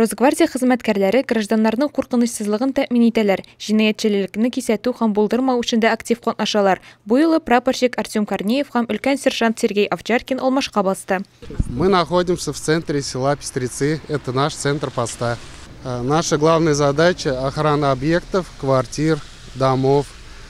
Росгвардия хезмәткәрләре гражданнарның куркынычсызлыгын тәэмин итәләр, җинаятьчелелекне кисәтү һәм булдырмау эшен дә актив катнашалар. Бу юлы прапорщик Артем Корнеев һәм өлкән сержант Сергей Овчаркин алмашка басты. Мы находимся в центре села Пестрецы, это наш центр поста. Наша главная задача, охрана объектов, квартир, домов.